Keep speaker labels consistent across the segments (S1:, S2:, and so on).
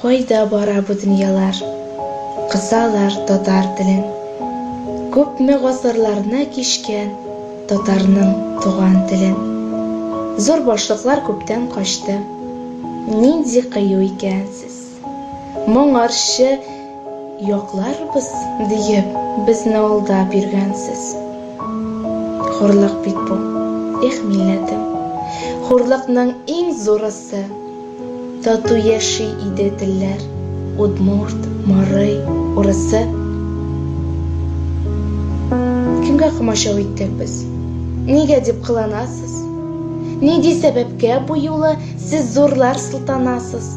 S1: Кайда бара бу дөньялар? Кысалар татар телен. Күпме гасырларны кичкән татарның туган телен. Зур башлыклар күптән качты. Нинди кыю икән сез. Моңарчы Якларбыз диеп, безне алдап йөргәнсез. Хурлык бит бу, эх, милләтем. Хурлыкның иң зурысы. Тату яши иде телләр, удмурт, марый, урысы. Кемгә комачау иттек без? Нигә дип кыланасыз? Нинди сәбәпкә бу юлы сез зурлар сылтанасыз?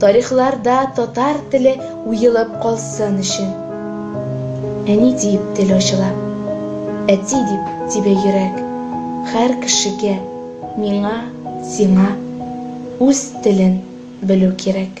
S1: Тарихларда татар теле уелып калсын өчен. Әни диеп тел ачыла. Әти дип тибә йөрәк. Хәр кешегә, миңа, сиңа үз телен белү кирәк.